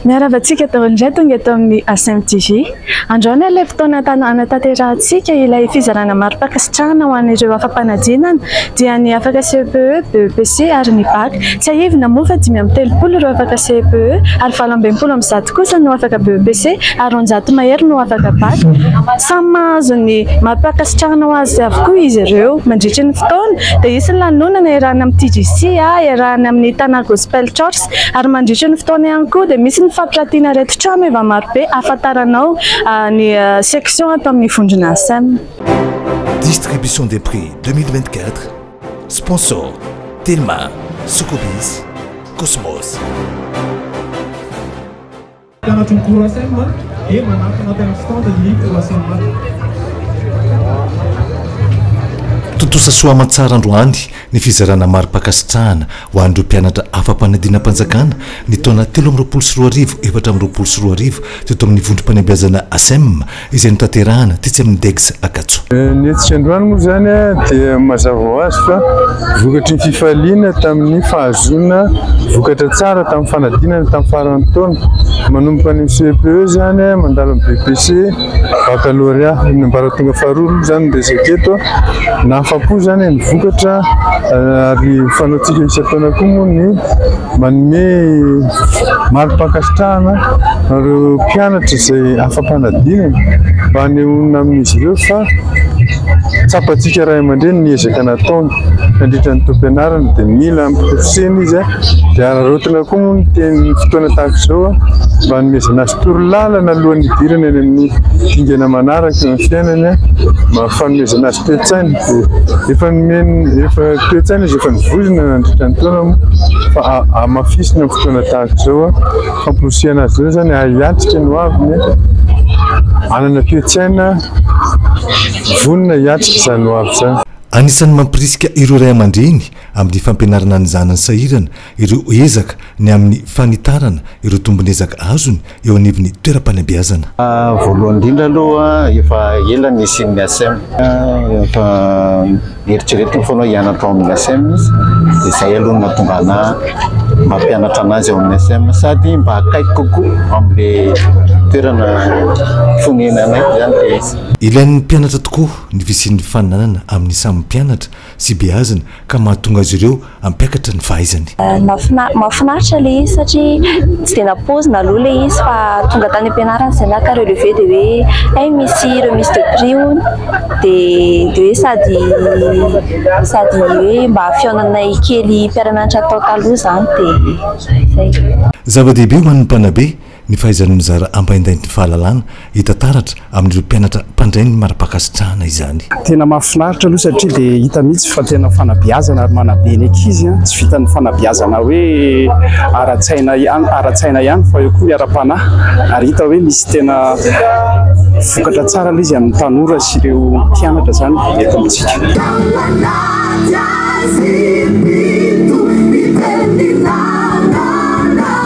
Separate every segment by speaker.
Speaker 1: Miarahaba antsika daholo indray tonga eto amin'ny ASM TV. Androany ary ilay fotoana hanatanterahitsika ilay fizarana mari-pankasitrahana ho an'ireo afa-panadinana dia ny afaka CEPE, BEPC ary ny BAC. Tsiahivina moa fa dimy amby telopolo ireo afaka CEPE ary valo amby enimpolo amby zato kosa no afaka BEPC ary roanjato mahery no afaka Bac. Samy mahazo ny maha-mpankasitrahana ho azy avokoa izy ireo. Mandritry ny fotoana dia hisy ny lanonana iarahana amin'ny TGC, iarahana amin'ny Tana Gospel Chorch ary mandritry ny fotoana ihany koa dia misy ny fampiratiana ireto trano efa marobe ahafantaranao ny section ato amin'ny vondrona Asem.
Speaker 2: Distribution des prix deux mille vingt-quatre. Sponsor, Telma, Sokobis, Cosmos. Mpianatry ny cours ASM dia manakana tena stand ny cours ASM. Tontosa soa aman-tsara androany ny fizarana mari-pankasitrahana ho an'ireo mpianatra afa-panadinam-panjakana ny taona telo amby roapolo sy roa arivo efatra amby roapolo sy roa arivo teto amin'ny vondrom-panabeazana ASEM izay notanterahana tetsy amin'ny Degs Ankatso. Ny hetsika androany
Speaker 3: moa izany dia mazava ho azy fa vokatry ny fifaliana tamin'ny fahazoana vokatra tsara tamin'ny fanadinana tamin'ny faran'ny taona. Manomboka any amin'ny CEPE izany mandalo amin'ny BEPC, Bakalôrea amin'ny ambaratonga faharoa aloha izany no resaka eto. Nahafa-po izany ny vokatra ary fanaontsika isan-taona koa moa ny. Manome mari-pankasitrahana ireo mpianatra izay afa-panadinana mba hanehoana amin'izy ireo fa tsapantsika ray aman-dreny ny ezaka nataony nandritra ny taom-pianarana dia mila ampirisihina izy dia araraotina koa moa ny teny fotoana tahaka izao mba hanomezana azy torolalana alohan'ny hidirana eny amin'ny dingana manaraka eo amin'ny fiainany Fanomezana azy toe-tsaina, efa nomeny efa toe-tsaina izy efa nivozona nandritra ny taona moa fa hamafisina amin'ny fotoana tahaka izao hamporisihana azy ireo izany hiatrika ny hoaviny hanana toe-tsaina vonona hiatrika izany hoavy izany. Anisan'ny mampirisika
Speaker 2: ireo ray aman-dreny amin'ny fampianarana ny zanany sahirana ireo ezaka ny amin'ny fanitarana ireo tombon'ezaka azony eo anivon'ny toeram-panabeazana. Voalohany indrindra
Speaker 4: aloha, efa ela ny nisian'ny ACEM. Efa eritreretiny foana hoe hianatra ao amin'ny ACEM izy, dia izay aloha no nahatonga ana mba hampianatra anazy ao amin'ny ACEM, sady mba akaiky kokoa amin'ilay toerana fonenanay izany ilay izy. Ilain'ny mpianatra
Speaker 2: tokoa ny fisian'ny fifaninanana amin'ny samy mpianatra. sy beazina ka mahatonga azy ireo hampiakatra ny fahaizany. Mahafinaritra
Speaker 5: ilay izy satria tsy dia nampoizina aloha ilay izy fa tonga tany am-pianarana izay naka relevé dia hoe hay misy remise de prix hono dia dia hoe sady sady hoe mba fihaonanay kely mpiara-mianatra tao taloha izany dia izay. Zava-dehibe ho an'ny
Speaker 2: mpanabe Ny fahaizanao nizara ampaindainty fahalalana hita taratra amin'ireo mpianatra mpandray ny mara-pankasitrahana izany. Tena mahafinaritra
Speaker 6: aloha satria dia hita mihitsy fa tena fanabeazana ary manabe ny ankizy an, tsy vitan'ny fanabeazana hoe ara-tsaina ihany ara-tsaina ihany fa eo koa ny ara-panahy ary hita hoe misy tena vokatra tsara aloha izy amin'ny tanora sy ireo mpianatra izany eto amintsika.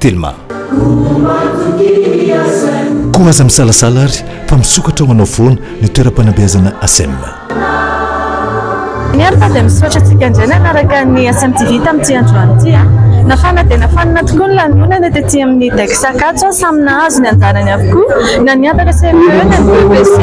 Speaker 2: Telma. Koa aza misalasala ary fa misokatra ho anao foana ny toeram-panabeazana ASEM.
Speaker 1: Ny ary fa dia misaotra antsika indray nanaraka ny ASEM TV tamin'ity androany ity a. Nafana dia nafanina tokoa ny lanonana tety amin'ny Dex Ankatso a, samy nahazo ny anjarany avokoa, na ny havaka CME, na ny BEPC,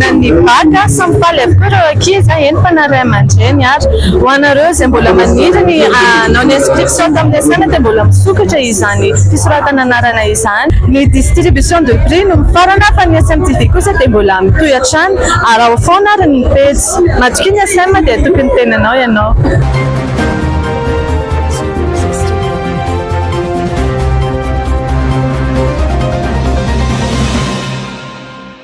Speaker 1: na ny Bac a, samy faly avokoa ireo ankizy a, eny fa na ray aman-dreny ary. Ho anareo izay mbola maniry ny hanao ny inscription, Saonjo amin'ny asaina dia mbola misokatra izany fisoratana anarana izany. Ny distribution de prix no mifarana fa ny SMTV kosa dia mbola mitohy hatrany. Araho foana ary ny pejy. Matokia ny SM dia hatoky ny tenanao ianao.